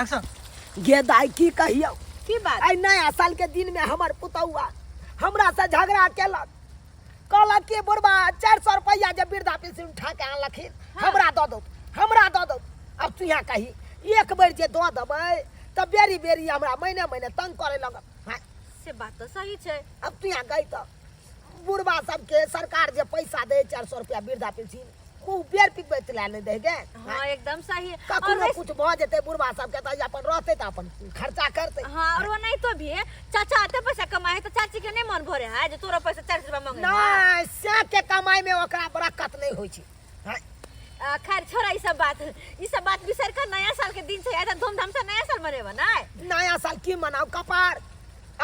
Action गे दाई की कहियो की बात आई नया साल के दिन में हमर पुतौआ हमरा से झगड़ा केलक कहलक कि बुढ़बा चार सौ रुपया जे वृद्धा पेंशन उठा के आनलखिन हमरा दऽ दो हमरा दऽ दो अब तू यहाँ कही एक बेर जे दऽ देबै तऽ बेरी बेरी हमरा महीने महीने तंग करे लगब हाँ, से बात तो सही छै अब तू यहाँ गई तऽ बुढ़वा सबके सरकार जे पैसा दे चार सौ रुपया वृद्धा पेंशन ओ बेर पिकबै चला नहि दै गे हाँ एकदम सही है। और कखनो वैसे- कुछ भऽ जेतै बुढ़वा सबके तऽ अपन रहतै तऽ अपन खर्चा करतै हाँ और वो नहीं तो भी है चाचा आते पैसा कमाए है तो चाची के नहीं मन भरे है जो तोरा पैसा चालीस रुपया मांगे है। नहि से के कमाई में ओकरा बरकत नहि होइ छै आ, खैर छोड़ा ई सब बात ई सब बात बिसर कर नया साल के दिन से आया था धूमधाम से नया साल मनेबा ना नया साल की मनाओ कपार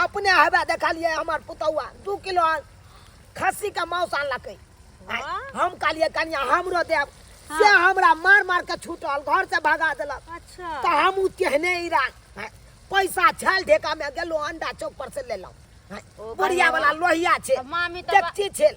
अपने हवा देखा लिए हमार पुतौआ दू किलो खस्सी का मांस आनलकै आय, वाह। हम कहलिए कनिया हमरो देब से हमरा मार मार के छूटल घर से भगा देलक अच्छा तो हम उ तेहने ईरा आय, पैसा छल ढेका में गेलो अंडा चौक पर से लेलहुँ आय, ओ बुढ़िया भाई, वाला लोहिया छै अब मामी तो बा- देखती छेल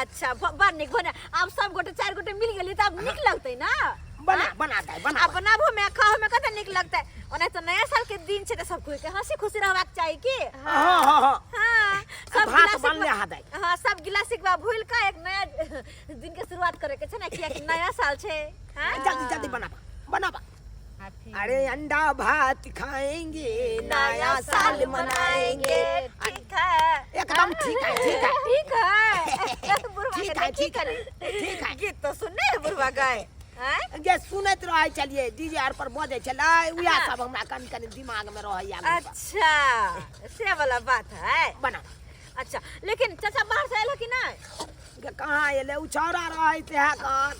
अच्छा ब- बड़ नीक बने आब सब गोटे चार गोटे मिल गेली तऽ आब नीक लगतै ना बना बना दाई बना आ बनाबो में खाओ में कते नीक लगतै ओना तऽ नया साल के दिन छै तऽ सब कोई के हंसी खुशी रहबाक चाही की हाँ हाँ हाँ हाँ सब भात गिलास बनले एक हा दाई। बार- हाँ सब गिलास एक बार भूल के एक नया दिन के शुरुआत करे के छै ना किया कि नया साल छै हाँ जल्दी जल्दी बनाबा बनाबा अरे अंडा भात खाएंगे नया साल मनाएंगे ठीक है एकदम ठीक है ठीक है ठीक है बुढ़वा ठीक है ठीक है ठीक है गीत तो सुनने है बुढ़वा गाय जे सुनत रहे चलिए डीजे आर पर बजे चला उया हाँ। सब हमरा कन कन दिमाग में रहे अच्छा से वाला बात है बना अच्छा लेकिन चाचा बाहर से अयलह कि नहि गे कहाँ अयलै ओ छौड़ा रहै तेहे कान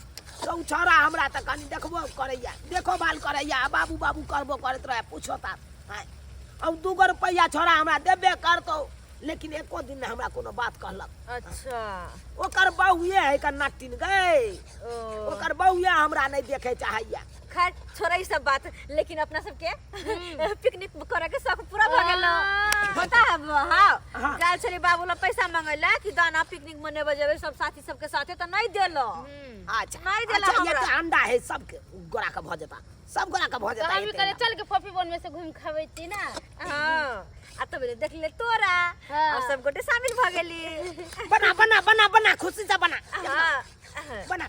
तऽ ओ छौड़ा हमरा तऽ कनि देखबो करैया देखो भाल करैया आ बाबू बाबू करबो करैत रहै पूछो ता आँय अब दू गो रुपैआ छौड़ा हमरा देबे करतौ लेकिन एको दिन नहि हमरा कोनो बात कहलक अच्छा ओकर बौए है कन्ना टिन गै ओ ओकर बौए हमरा नहि देखे चाहैया खैर छोड़ा ई सब बात लेकिन अपना सबके पिकनिक करे के शौक पूरा भ गेल पता है हां काल छली बाबू ला पैसा मंगैला कि दाना पिकनिक मनेबे जेबे सब साथी सबके साथे त नहीं देलो अच्छा नहीं देला अच्छा, ये हमरा। तो अंडा है सबके गोरा का भऽ जेता सब गोरा का भऽ तो जेता हम भी एते करे अंडा। चल के पॉपी बोन में से घूम खावे छी ना हां आ तब ले देख ले तोरा हाँ। और सब गोटे शामिल भ गेली बना बना बना बना खुशी से बना हां बना